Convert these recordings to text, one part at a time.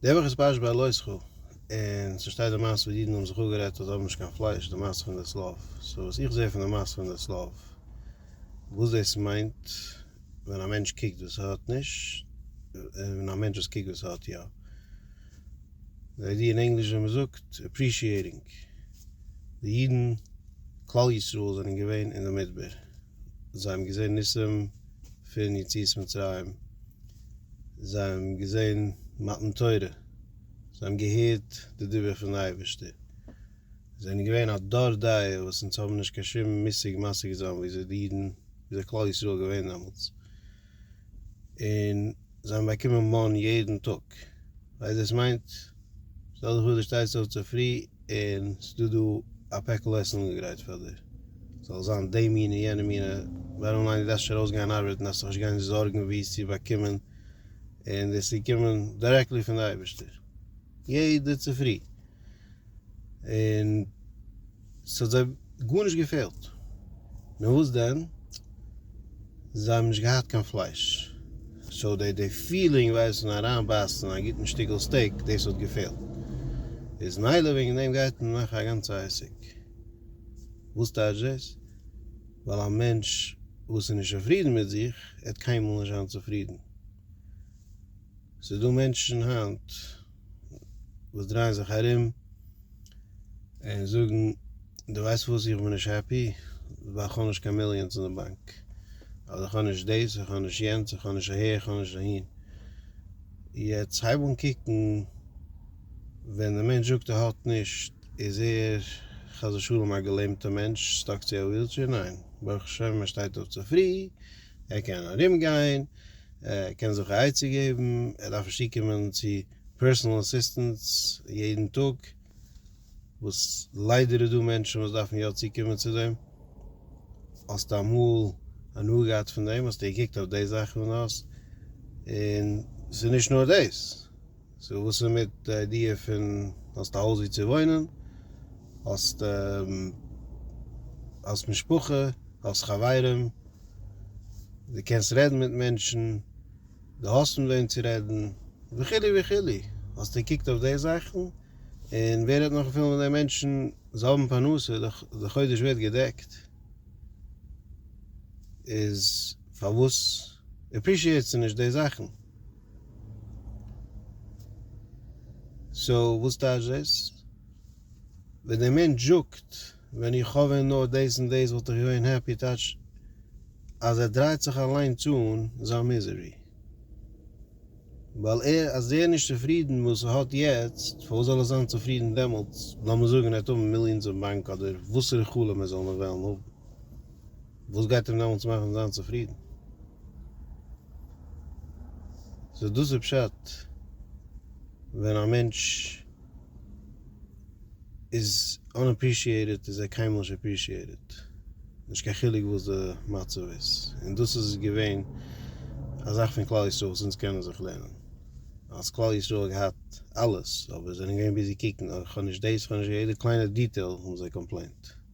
דער וואך איז פרשת בלעשכו, און ס'שטייט די מעשה וואס די אידן האבן זיך אפגערעדט אז זיי האבן נישט קיין פלייש, די מעשה פון די צלב. סאו וואס איך זע פון די מעשה פון די צלב, וואס דאס מיינט ווען א מענטש קוקט וואס ער האט נישט, און א מענטש וואס קוקט וואס ער האט יא. די איידיע אין ענגליש ווי מ'זאגט, אפרישיעטינג. די אידן, כלל ישראל, זענען געווען אין די מדבר. זיי האבן געזען ניסים פון יציאת מצרים, זיי האבן געזען מתן תורה, זיי האבן געהערט די דיבור פון אייבערשטער, זיי זענען געווען א דור דעה וואס אונז האבן נישט קיין שום מושג משג זיין ווי אזוי די אידן ווי אזוי כלל ישראל איז געווען דעמאלטס. און זיי האבן באקומען מאן יעדן טאג, ווייסט דאס מיינט? שטעל דיך פאר דו שטייסט אויף צופרי און ס'דא דא א פעקל עסן אנגעגרייט פאר דיר, ס'זאל זיין די מינע און יענע מינע, בארעם ליין דו דארפסט שוין ארויסגיין ארבעטן דארפסט דיך נישט גיין זארגן ווי עס צו באקומען, און דאס איז געקומען דירעקטלי פון די אייבערשטער יעדע צופרי, און. ס'האט זיי גארנישט געפעלט, נאר וואס דען, זיי האבן נישט געהאט קיין פלייש, סאו די די פילינג ווייסן אריינבייסן א גוטן שטיקל סטעיק דאס האט געפעלט, איז מילא וועגן דעם גייט מען מאכן א גאנצע עסק, וואס טייטש דאס? ווייל א מענטש וואס איז נישט צופרידן מיט זיך עט קיינמאל נישט זיין צופרידן, ס'איז דא מענטשן היינט. וואס דרייען זיך ארום און זאגן דו ווייסט וואס איך בין נישט העפי ווייל איך האב נישט קיין מיליאנס אין די באנק אדער איך האב נישט דאס איך האב נישט יענץ איך האב נישט אהער איך האב נישט אהין יעצט הייב אן קוקן ווען די מענטש זאגט ער האט נישט איז ער חס ושלום א געלעמטע מענטש סטאק צו א ווילטשעיר ניין ברוך השם ער שטייט אויף צופרי ער קען ארום גיין, ער קען זיך א עצה געבן, ער דארף נישט צוקומען צו פערסאנעל אסיסטענטס יעדן טאג, וואס ליידער איז דא מענטשן וואס דארפן יא צוקומען צו דעם, האסט אמאל הנאה געהאט פון דעם? האסטו געקוקט אויף די זאכן און און ס'איז נישט נאר דאס. סאו וואס איז מיט די איידיע פון האסט א הויז ווי צו וואוינען, האסט האסט משפחה, האסט חברים, די קענסט רעדן מיט מענטשן, די האסט מיט וועם צו רעדן, וכו' וכו', האסט געקוקט אויף די זאכן? און ווער רעדט נאך אפילו מיט די מענטשן, זיי האבן פרנסה, די חודש ווערט געדעקט, איז פארוואס עפרישיעטסטו נישט די זאכן? סאו וואס טייטש דאס? ווען דער מענטש זאגט ווען איך האב ווען נאר דאס און דאס וואלט איך געווען העפי טייטש אז ער דרייט זיך אליינס אן זיין מיזערי. ווייל ער אז ער נישט צופרידן וואס ער האט יעצט פארוואס זאל ער זיין צופרידן דעמאלטס לאמיר זאגן ער האט האבן מיליאנס אין באנק אדער וואסערע חלום ער זאל נאר וועלן האבן. וואס גייט אים דעמאלטס מאכן זיין צופרידן? סאו דאס איז פשט ווען א מענטש איז אנעפרישיעיטעד איז ער קיינמאל נישט עפרישיעיטעד, נישט קיין חילוק וואס די מצב איז, און דאס איז געווען א זאך פון כלל ישראל וואס אונז קענען זיך לערנען, אז כלל ישראל האט געהאט אלעס אבער זענען געווען ביזי קוקן אוי כ'האב נישט דאס כ'האב נישט יעדע קליינע דיטעיל האבן זיי קאמפלעינט.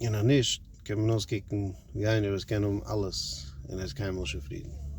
און אז נישט קען מען אויסקוקן ווי איינער וואס קען האבן אלעס און ער איז קיינמאל שוין צופרידן.